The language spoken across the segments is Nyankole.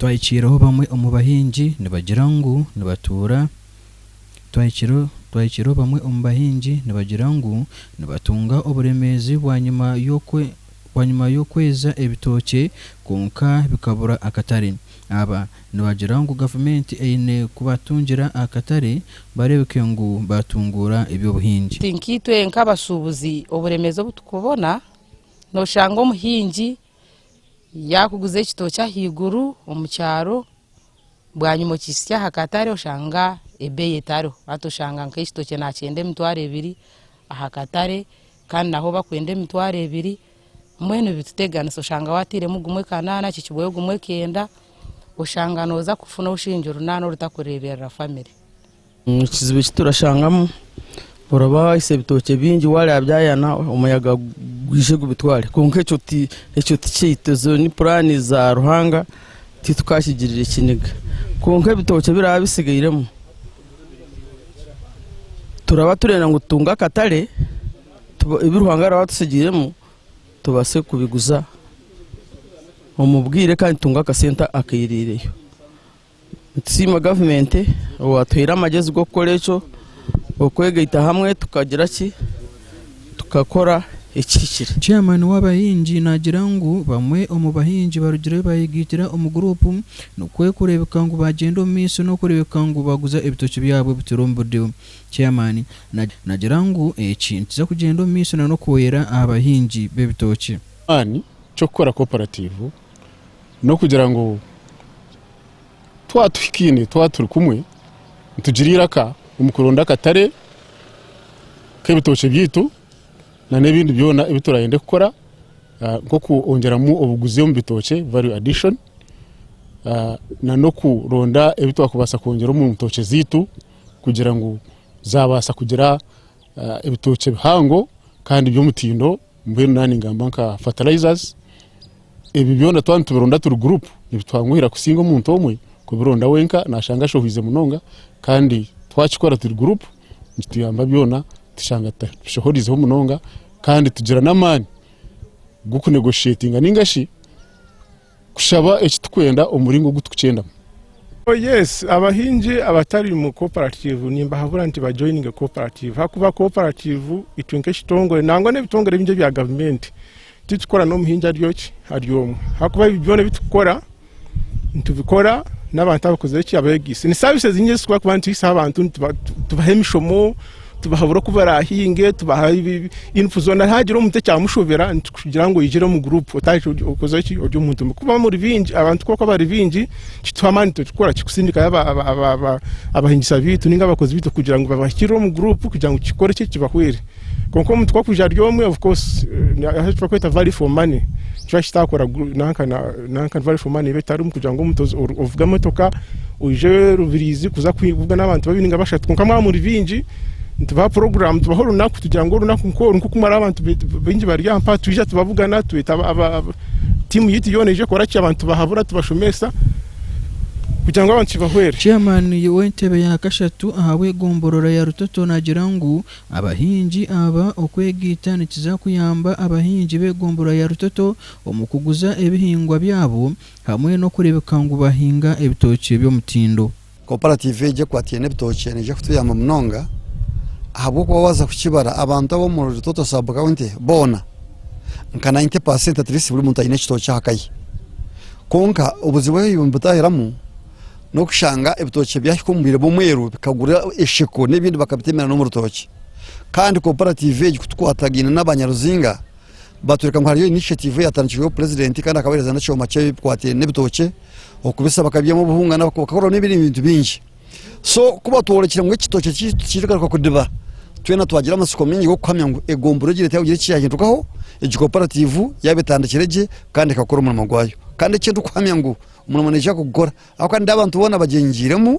Twahikiireho bamwe omu bahingi nibagira ngu nibatuura Twahikiireho bamwe omu bahingi nibagira ngu nibatunga oburemeezi bwanyima y'okweza ebitookye kwonka bikabura akatare. Aba. Nibagira ngu gavumenti eine kubatungira akatare bareebeke ngu baatunguura eby'obuhingi. Tinkaitwe nk'abashuubuzi oburemeezi obu turikubona, nooshanga omuhingi yaakuguza ekitookye ahaiguru omu kyaro, bwanyima okihitsya aha katare oshanga ebeeyi etariho. Hati oshanga nk'ekitookye naakyenda emitwaro ebiri aha katare, Kandi naho bakwenda emitwaro ebiri mbwenu bituteganisa oshanga wateiremu gumwe kanana akihikibweyo gumwe kenda oshanga noza kufuna obushingi runana orutakureberera family. Ekizibu eki turashangamu oraba wahitsya ebitookye bingi wareba byayana omuyaga gwije gubitware kwonka ekyo ti ekyo ti kyaitu ezo ni purani za Ruhanga titukakigirire kiniga kwonka ebitookye biraba bitsigairemu. Turaba turenda ngu tutunge akatare ebi Ruhanga araba atutsigiiremu tubaase kubiguza omu bwire kandi tutunge akasente akaihireire. Nitusiima gavumenti owaatuhaire amagyezi g'okukora ekyo, okwegaita hamwe tukagira ki? tukakora ekihikire. Chairman w'abahingi naagira ngu bamwe omu bahingi barugire baayegaitira omu guruupu nikwo kureebeka ngu baagyenda omu maisho n'okureebeka ngu baaguza ebitookye byabo bituri omu budeyo. Chairman naagira ngu eki nikiza kugyenda omu maisho na n'okwoyera aha bahingi b'ebitookye. Eky'okukora koparatiivu n'okugira ngu Twaba tuhikaine, twaba turi kumwe, nitugira eiraka omu kuronda akatare k'ebitookye byaitu n'ebindi byona ebi turayende kukora nk'okwongyeramu obuguzi omu bitookye, value addition, n'okuronda ebi twakubaasa kwongyera omu ntookye zaitu kugira ngu zaabaasa kugira ebitookye bihango kandi by'omutindo. Mbwenu naaha ningamba nka fertilizers, ebi byona twaba nitubironda turi group nibitwanguhira kusinga omuntu omwe kubironda wenka nashanga ashohwize munonga kandi twakikora turi group nikituyamba byona tushanga tutabishohorizeho munonga kandi tugira n'amaani g'okunegotiatinga ningashi Kushaba eki turikwenda omu muringo ogu turikukyendamu. Oh yes, abahingi abatari mu koparativu nimbahabura nti bajoyininge koparativu ahakuba koparativu itwe nk'ekitongore nangwa n'ebitongore bingi ebya gavumenti titukora n'omuhingi ari oki ari omwe ahakuba ebi byona ebi turikukora nitubikora n'abantu abakozire eki abeegaise ni saavisi ezinyingi ezi turikubaasa kuba nituhaisaho abantu tubaha emishomo Tubahabura oku baraahinge, tubaha info zoona. Haagira omuntu ekyamushobera, nitukugira ngu oigire omu guruupu otandike okoze ki, ori omuntu omwe. Kuba muri baingi, abantu kwonka bari baingi, kituha amaani turikukora ki kusindikayo abahingisa baitu nainga abakozi baitu kugira ngu babahikirire omu guruupu kugira ngu kikore ki, kibahwere. Kwonka omuntu ku arikwija ari omwe, of course, eki barikweta value for money. Nikyo ahi tutaakora nanka nanka drive for money eba etarimu kugira ngu omuntu ovuge emotoka oije Rubiriizi kuza kuvuga n'abantu babiri ninga bashatu kwonka mwaba muri baingi nitubaha puroguraamu tubaha orunaku tugira ngu orunaku nk'oru nk'oku mwari abantu baingi bari aha mpaha twija tubabugana tweta tiimu yaitu yoona eije ekora ki abantu tubahabura tubashomesa kugira ngu abantu kibahwere. Chairman w'entebe ya kashatu ahabw'egomborora ya Rutoto nagira ngu Abahingi aba okwegaita nikiza kuyamba abahingi b'egombolola ya Rutoto omu kuguza ebihingwa byabo hamwe n'okureebeka ngu bahinga ebitookye by'omutindo. Koparatiivu egi ekwatiine ebitookye neija kutuyamba munonga ahabw'okuba waaza kukibara abantu ab'omu Rutoto sub county boona nka nainti paasenti atiriisiti buri muntu aine ekitookye aha ka ye. Kwonka obuzibu ebi nibutahiramu, n'okushanga ebitookye byahika omu bwire bw'omwero bikagura esheko n'ebindi bakabitemera n'omu rutookye kandi kooperative egi kutukwatagaine n'aba Nyaruzinga batworeka ngu hariyo initiative eyatandikirweho purezidenti kandi akabahereza n'ekyoma kye bikwataine n'ebitookye okubisa bakabyamu obuhunga bakakoramu n'ebindi bintu bingi so ku batworekire ngu ekitookye kyaitu kigaruka kudiba twena twagira amatsiko maingi g'okuhamya ngu egombora egi reeta yagira eki yaahindukaho egi kooperative yaaba etandikire gye kandi ekakora omurimo gwayo kandi eki ndikuhamya ngu Omurimo naija kugukora ahabw'okuba nindeeba abantu boona bagyengiiremu,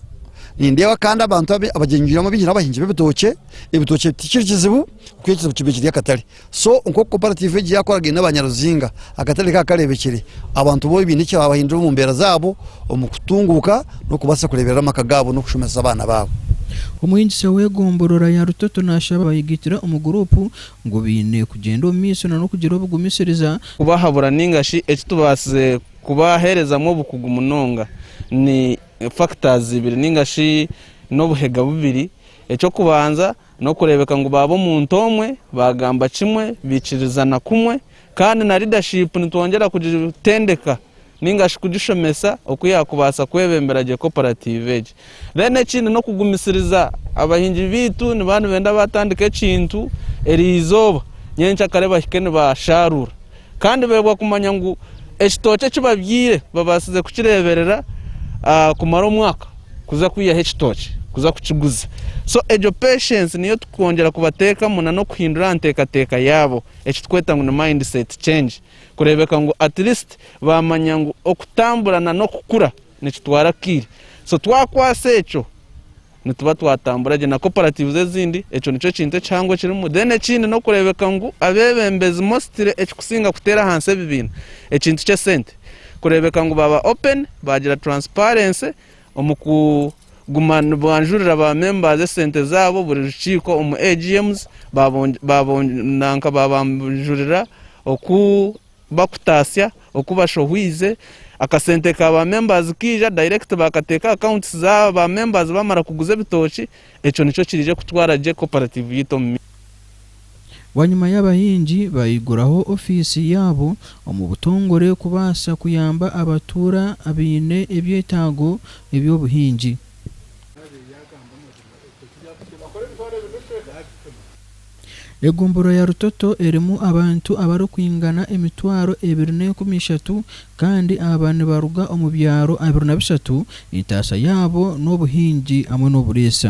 nindeeba kandi abantu abagyengiiremu abaingi n'abahingi b'ebitookye, ebitookye tikiri kizibu ahabw'okuba ekizibu kiba kiri akatare, so nk'oku koparatiivu egi yaakoragaine na baanyaruzinga akatare kaba kareebekire, abantu boona baine ekibahindura omu mbeera zaabo omu kutunguuka n'okubaasa kureeberera amaka gaabo n'okushomesa abaana baabo. Omuhingisa w'egomborora ya Rutoto naashaba abayegaitira omu guruupu ngu baine kugyenda omu maisho n'okugira obugumisiriza, kubahabura ninga shi ekitubaasize Kubaheerezamu obukugu munonga ni factors ibiri ninga shi n'obuhega bubiri. Eky'okubanza n'okureebeka ngu baaba omuntu omwe, baagamba kimwe, baikirizana kumwe. Kandi na leadership nitwongyera kugitendeka ninga shi kugishomesa oku yaakubaasa kwebembera gye cooperative egi. Reero ekindi n'okugumisiriza. Abahingi baitu nibaba nibenda baatandika ekintu eryo izooba, nyenkya kare bahike nibaashaaruura. Kandi beebwa kumanya ngu ekitookye eki babyaire babaasize kukireeberera kumara omwaka kuza kwihaho ekitookye kuza kukiguza. So egyo patience niyo turikwongyera kubateekamu n'okuhindura aha nteekateeka yaabo eki turikweta ngu ni mindset change kureebeka ngu at least baamanya ngu okutambura n'okukura. nikitwara akaire so twakwasa ekyo nituba twatambura gye na cooperatives ezindi ekyo nikyo ekintu ekihango ekirimu then ekindi n'okureebeka ngu abeebembezi mostly ekikusinga kuteera ahansi ebibiina ekintu ky'esente kureebeka ngu baaba open baagira transparency omu kuguma nibwanjurira ba members esente zaabo buri rukiiko omu AGMs nanka baabanjurira oku bakutatsya oku bashohwize, akasente ka ba members kaija direct bakateeka aha accounts za ba members bamara kuguza ebitokye, ekyo nikyo kiriije kutwara gye cooperative yaitu omu maiso. Bwanyima y'abahingi baiguraho ofiisi yaabo omu butongore kubaasa kuyamba abatuura abaine ebyetaago eby'obuhingi. Egombolola ya Rutoto erimu abantu abarikwingana emitwaro ebiri n'enkumi ishatu kandi aba nibaruga omu byaro abiri na bishatu, entaasa yaabo n'obuhingi hamwe n'oburiisa.